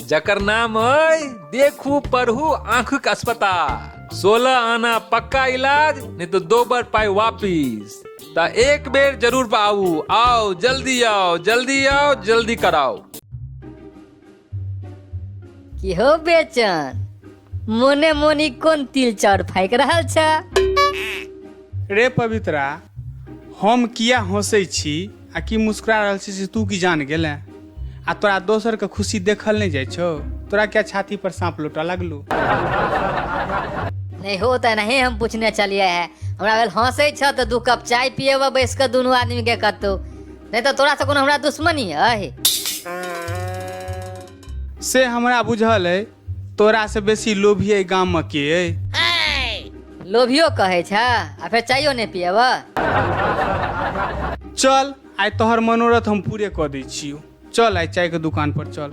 जकर नाम अय देखू पढ़ू आंखक अस्पताल सोलह आना पक्का इलाज नहीं तो दो बार पाई वापिस ता एक बेर जरूर पाऊ आओ जल्दी आओ जल्दी आओ जल्दी कराओ की हो बेचन मोने मोनी कोन तिल चाउर फाइक रहल छ रे पवित्रा हम किया हंसै छी आ की मुस्कुरा रहल छी से तू की जान गेले आ तोरा दोसर के खुशी देखल नहीं जाय छो तोरा क्या छाती पर सांप लोटा लगलू नहीं हो तो नहीं हम पूछने चलिए है हमरा भेल हंसे छ तो दू कप चाय पिएबा बैस के दुनू आदमी के कतौ नहीं तो तोरा से कोनो हमरा दुश्मनी है से हमरा बुझल है तोरा से बेसी लोभी एहि गाम में के अइ लोभियो कहै छ आ फेर चायो नहि पियब चल आइ तोहर मनोरथ हम पूरे कऽ दै छियौ चल आइ चाय के दुकान पर चल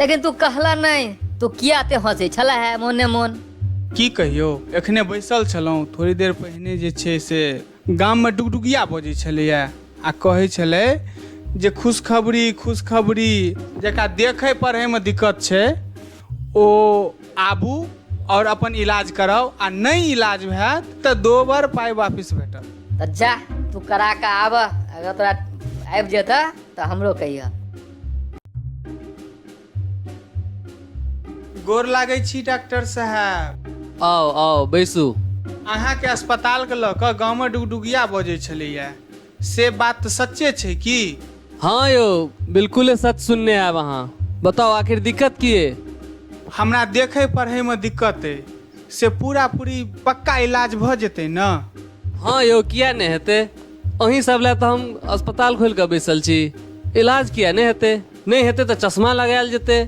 लेकिन तू कहला नहि तू किया ते हंसै छला है मोने मोन की कहियौ एखने बैसल छलहुँ थोड़ी देर पहिने जे छै से गाममे डुगडुगिया बजै छलैए आ कहै छलै जे खुशखबरी खुशखबरी जकरा देखै पढ़ैमे दिक्कत छै ओ आबू आओर अपन इलाज कराउ आ नहि इलाज हैत तऽ दोबर पाइ वापिस भेटत तऽ जा तू करा कऽ आबह अगर तोरा आबि जेतह तऽ हमरो कहियह गोर लागै छी डॉक्टर साहब आउ आउ बैसू अहाँके अस्पतालके लऽ कऽ गाँवमे डुगडुगिया बजै छलैए से बात तऽ सच्चे छै की हँ यौ बिल्कुले सच सुनने आयब अहाँ बताउ आखिर दिक्कत की अइ हमरा देखै पढ़ैमे दिक्कत अइ से पूरा पूरी पक्का इलाज भऽ जेतै ने हँ यौ किया नहि हेतै अहीं सब लए तऽ हम अस्पताल खोलि कऽ बैसल छी इलाज किया नहि हेतै नहि हेतै तऽ चश्मा लगायल जेतै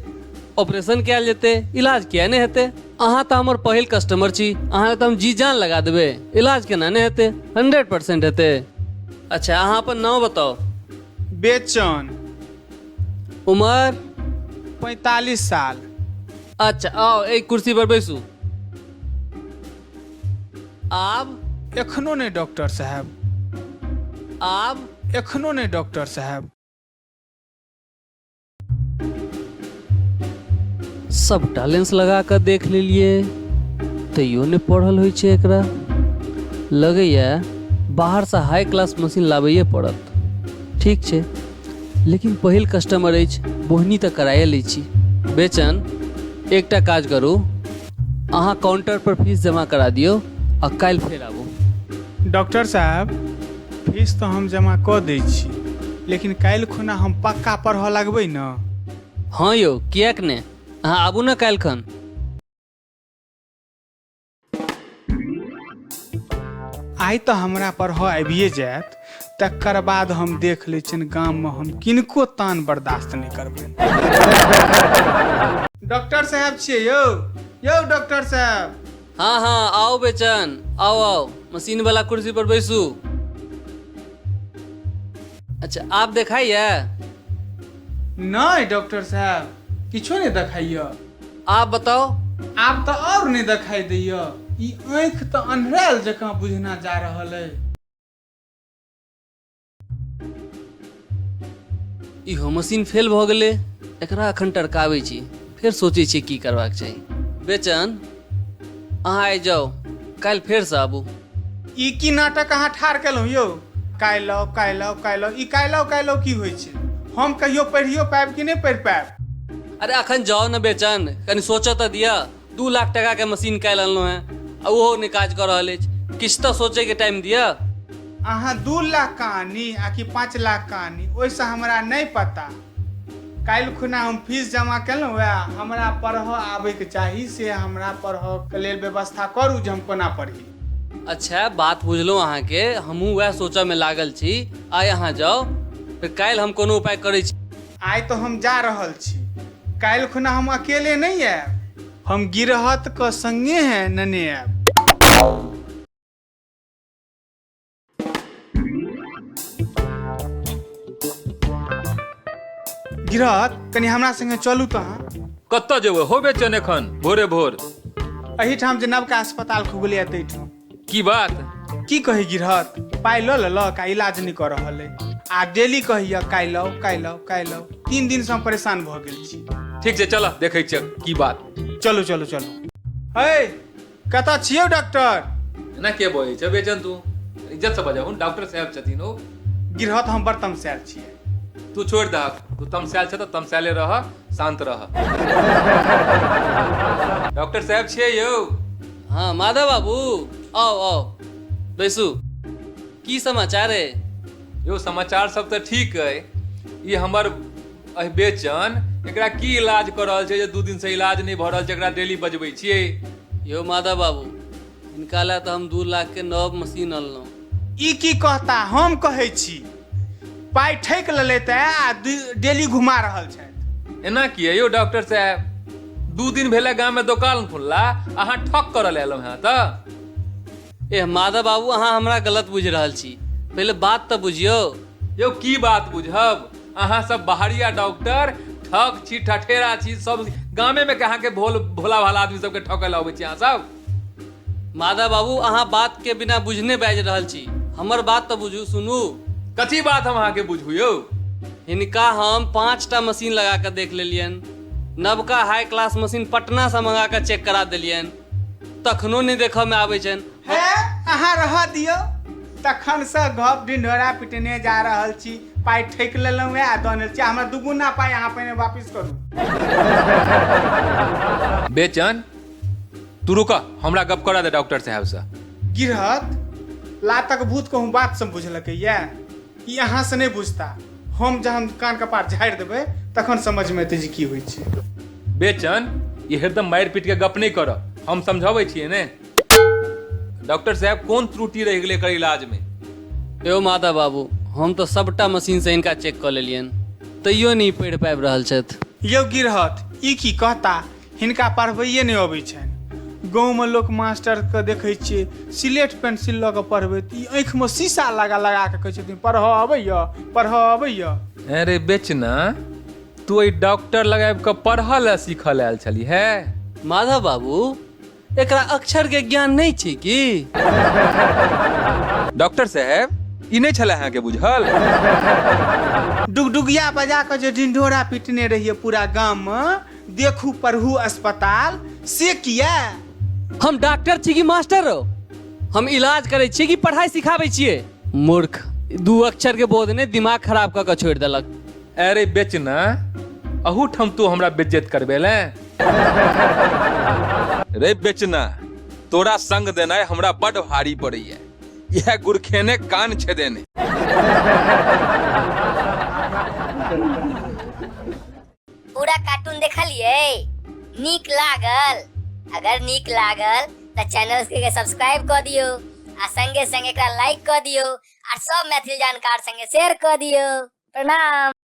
ऑपरेशन कयल जेतै इलाज किया नहि हेतै अहाँ तऽ हमर पहिल कस्टमर छी अहाँ तऽ हम जी जान लगा देबै इलाज केना नहि हेतै हंड्रेड परसेंट हेतै अच्छा अहाँ अपन नाम बताउ बेचन उमर पैंतालीस साल अच्छा आउ एहि कुर्सी पर बैसू आब एखनो नहि डॉक्टर साहब आब एखनो नहि डॉक्टर साहब सभटा लेंस लगा कऽ देख लेलियै तैयो नहि पढ़ल होइ छै एकरा लगैए बाहरसँ हाई क्लास मशीन लाबैए पड़त ठीक छै लेकिन पहिल कस्टमर अछि बोहनी तऽ कराए लै छी बेचन एकटा काज करू अहाँ काउंटर पर फीस जमा करा दियौ आ काल्हि फेर आबू डॉक्टर साहब फीस तऽ हम जमा कऽ दै छी लेकिन काल्हि खुना हम पक्का पढ़ऽ लगबै ने हँ यौ किएक ने अहाँ आबू ने काल्हि खन आइ तऽ हमरा पढ़ऽ आबिए जायत तकर बाद हम देख लै छियनि गाममे हम किनको तान बर्दाश्त नहि करबै डॉक्टर साहब छियै यौ यौ डॉक्टर साहब हाँ हाँ आओ बेचन आओ आओ मशीन वाला कुर्सी पर बैसू अच्छा आप देखाइए नहि डॉक्टर साहब किछो नहि देखाइए आप बताओ आब तऽ आओर नहि देखाइ दैए ई आँखि तऽ अन्हरायल जकाँ बुझना जा रहल अइ इहो मशीन फेल भऽ गेलै एकरा एखन टरकाबै छी फेर सोचै छियै की करबाक चाही बेचन अहाँ आइ जाउ काल्हि फेरसँ आबू ई की नाटक अहाँ ठाढ़ केलहुँ यौ काल्हि आउ काल्हि आउ काल्हि आउ ई काल्हि आउ काल्हि आउ की होइ छै हम कहियो पढ़ियो पायब कि नहि पढ़ि पायब अरे अखन जाओ ने बेचन कनि सोचऽ तऽ दिया दू लाख टका के मशीन काल्हि अनलहुँ हैं आ ओहो नहि काज कऽ रहल अछि किछु तऽ सोचे के टाइम दिअ अहाँ दू लाख का आनी आ कि पाँच लाख का आनी ओहिसँ हमरा नहि पता काल्हि खुना हम फीस जमा केलहुँ वएह हमरा पढ़ऽ आबैके चाही से हमरा पढ़ऽके लेल व्यवस्था करू जे हम कोना पढ़ी अच्छा बात बुझलहुँ अहाँके हमहूँ वएह सोचऽ मे लागल छी आइ अहाँ जाउ फेर काल्हि हम कोनो उपाय करै छी आइ तऽ हम जा रहल छी काल्हि खुना हम अकेले नहि आयब हम गिरहत के संगे है नने आयब गिरहत कनि हमरा संगे चलू तऽ अहाँ कतऽ जेबै हो बेचन एखन भोरे भोर एहिठाम जे नवका अस्पताल खुगलै ताहिठाम की बात की कही गिरहत पाइ लऽ लेलक आ इलाज नहि कऽ रहल अइ आ डेली कहैया काइ लाउ काइ लाउ काइ लाउ तीन दिन से हम परेशान भऽ गेल छी ठीक छै चलऽ देखै छियै की बात चलू चलू चलू हे कतऽ छियौ डॉक्टर एना के बजै छै बेचन तू इज्जत से बजाहु डॉक्टर साहब छथिन ओ गिरहत हम बड़ तमसायल छियै तू छोड़ दह तू तमसायल छ तऽ तमसायले रह शांत रह डॉक्टर साहब छियै यौ हँ माधव बाबू आउ आउ बैसू की समाचार अइ यौ समाचार सब तऽ ठीक अइ ई हमर अहि बेचन एकरा की इलाज कऽ रहल छै जे दू दिन से इलाज नहि भऽ रहल छै एकरा डेली बजबै छियै यौ माधव बाबू हिनका लए तऽ हम दू लाख के नव मशीन अनलहुँ ई की कहता हम कहै छी पाइ ठकि लेलथि आ दु- डेली घुमा रहल छथि एना किए यौ डॉक्टर साहब दू दिन भेलै गाममे दोकान खुलला अहाँ ठक करऽ लए एलहुँ हेँ तऽ एह माधव बाबू अहाँ हमरा गलत बुझि रहल छी पहिले बात तऽ बुझियौ यौ की बात बुझब अहाँ सब बाहरिया डॉक्टर ठक छी ठठेरा छी सब गामे में के अहाँ के भोल भोला भाला आदमी सबके ठकै लए अबै छी अहाँ सब माधव बाबू अहाँ बात के बिना बुझने बाजि रहल छी हमर बात तऽ बुझू सुनू कथी बात हम अहाँके बुझू यौ हिनका हम पाँच टा मशीन लगा कऽ देख लेलियन नवका हाई क्लास मशीन पटना से मंगा कऽ चेक करा देलियन तखनो नहि देखऽ मे आबै छनि हे अहाँ रह दियौ तखन से गप ढिंढोरा पिटने जा रहल छी पाइ ठैक लेलहुँ हे आ दने छी हमरा दुगुना पाइ अहाँ पहिने वापिस करू बेचन तू रुकऽ हमरा गप करऽ दे डॉक्टर साहब से गिरहत लातक भूत कहूँ बात से बुझलकै ये ई अहाँ से नहीं बुझता हम जहन कान कपार झाड़ि देबै तखन समझ में एतै जे की होइ छै बेचन ये हरदम मारि पीट के गप नहीं करऽ हम समझाबै छियै ने डॉक्टर साहब कोन त्रुटि रहि गेलै एकर इलाज में यौ माता बाबू हम तऽ सभटा मशीनसँ हिनका चेक कऽ लेलियनि तैयो नहि पढ़ि पाबि रहल छथि यौ गिरहत ई की कहता हिनका पढ़बैए नहि अबै छनि गाँवमे लोक मास्टरके देखै छियै सिलेट पेंसिल लऽ कऽ पढ़बैत ई आँखिमे शीशा लगा लगा कऽ कहै छथिन पढ़ऽ अबैए पढ़ऽ अबैए अरे बेचना तू एहि डॉक्टर लग आबि कऽ पढ़ऽ लए सीखऽ लए आयल छली है माधव बाबू एकरा अक्षर के ज्ञान नहीं छी की डॉक्टर साहब ई नहीं छला अहाँ के बुझल डुगडुगिया बजा के जे ढिंढोरा पीटने रहिए पूरा गांव में देखू पढ़ू अस्पताल से किया हम डॉक्टर छी कि मास्टर हो हम इलाज करै छी कि पढ़ाई सिखाबै छियै मूर्ख दू अक्षर के बोध ने दिमाग खराब कऽ कऽ छोड़ि देलक अरे बेचना अहूठाम तू हमरा बेज्जत करबे ले रे बेचना तोरा संग देनाय हमरा बड भारी पड़ैया यह गुरखेने कान छेदेने पूरा कार्टून देखलिए नीक लागल अगर नीक लागल तो चैनल के सब्सक्राइब कर दियो आ संगे संगे एकरा लाइक कर दियो और सब मैथिल जानकार संगे शेयर कर दियो प्रणाम